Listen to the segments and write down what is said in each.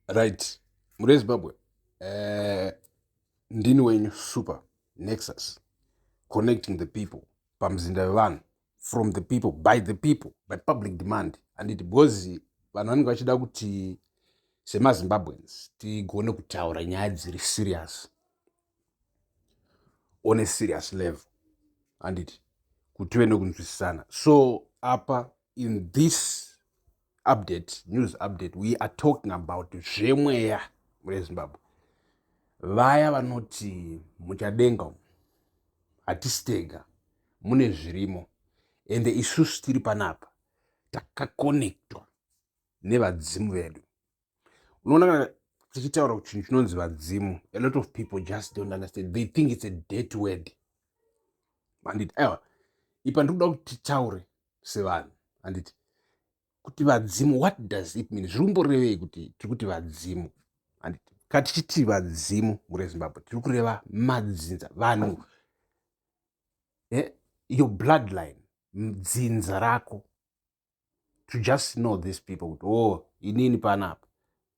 right mure zimbabwe uh, ndini wenyu super nexus connecting the people pamuzinda wevanhu from the people by the people by public demand handiti because vanhu vanenge vachida kuti semazimbabweans tigone kutaura nyaya dziri serious on a serious level handiti kuti tive nekunzwisisana so apa in this update news update we are talking about zvemweya mune zimbabwe vaya vanoti muchadenga umu hatisi tega mune zvirimo ende isusu tiri panapa takakonektwa nevadzimu vedu unoona kana tichitaura kuti chinhu chinonzi vadzimu a lot of people just don't understand they think it's a dead word handiti aiwa ipa ndiri kuda kuti titaure sevanhu handiti kuti vadzimu what does it mean zviri kumborevei kuti tiri kuti vadzimu handiti ka tichiti vadzimu murezimbabwe tiri kureva madzinza vanhu eh, your bloodline dzinza rako to just know these people kuti o oh, inini panapa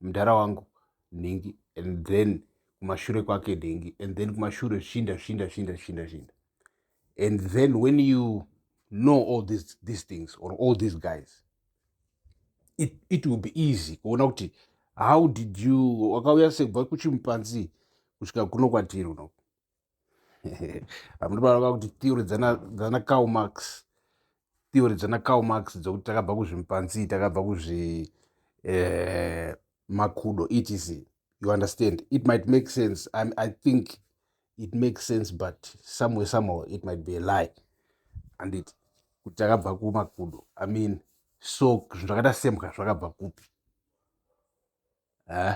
mudhara wangu nhingi and then kumashure kwake dhengi and then kumashure shinda shinda shinda shinda shinda and then when you know all these, these things or all these guys it, it will be easy kuona kuti how did you wakauya sekubva kuchimupanzi kusvika kuno kwatiri unoku hamuna vana vakuti theory dzana cow max theory dzana cow max dzokuti takabva kuzvimpanzi takabva kuzvi eh, makudo etc you understand it might make sense I, i think it makes sense but somewhere somehow it might be a lie andit kuti takabva kumakudo i mean so zvinhu zvakaita sembwa zvakabva kupi eh?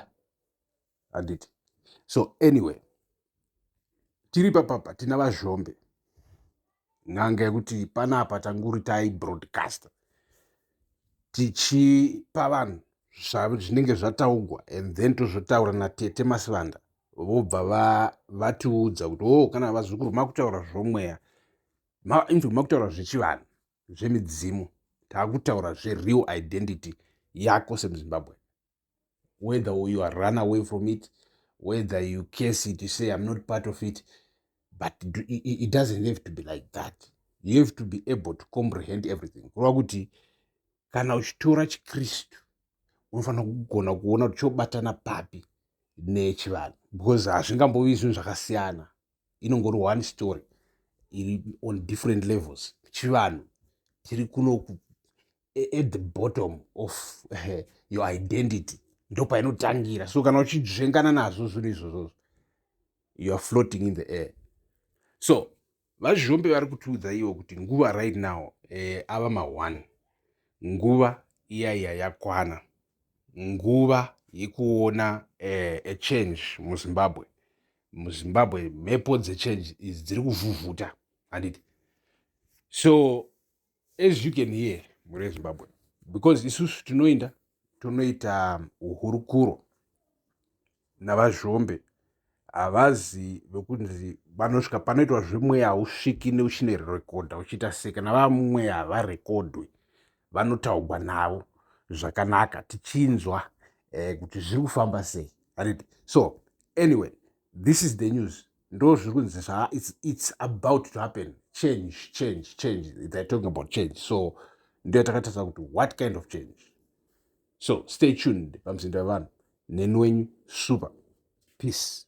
handiti so anyway tiri papapa tina vazhombe n'anga yekuti panapa tanguri tai broadcaster tichipa vanhu zvinenge zvataugwa and then tozotaura natete masivanda vobva va, vatiudza kuti o oh, kana vazukuru makutaura zvomweya ma, inzwi makutaura zvechivanhu zvemidzimu taakutaura zvereal identity yako semuzimbabwe whether you are run away from it whether you case it you say i'm not part of it but it doesn't have to be like that you have to be able to comprehend everything kureva kuti kana uchitora chikristu unofanira kugona kuona kuti chobatana papi nechivanhu because hazvingambovi zvinhu zvakasiyana inongori one story iri on different levels chivanhu tiri kuno e, at the bottom of uh, your identity ndopainotangira so kana uchidzvengana nazvo zvinhu izvozvozvo you are floating in the air so vazhombe vari kutiudza ivo kuti nguva right now eh, ava maone nguva iyaiya yakwana nguva yekuona eh, a change muzimbabwe muzimbabwe mhepo dzechange idzi dziri kuvhuvhuta handiti so as you can hear mhuri yezimbabwe because isusu tinoinda tonoita uhurukuro navazhombe havazi vekunzi vanosvika panoitwa zvemweya hausviki neuchine rekodha uchiita sei kana vamweya havarekodhwe vanotaugwa navo zvakanaka tichinzwa eh, kuti zviri kufamba sei aniti so anyway this is the news ndo zviri kunzi zva it's, it's about to happen change change change they're talking about change so ndo yatakatarisa kuti what kind of change so stay tuned pamuzinda wevanhu neni wenyu super peace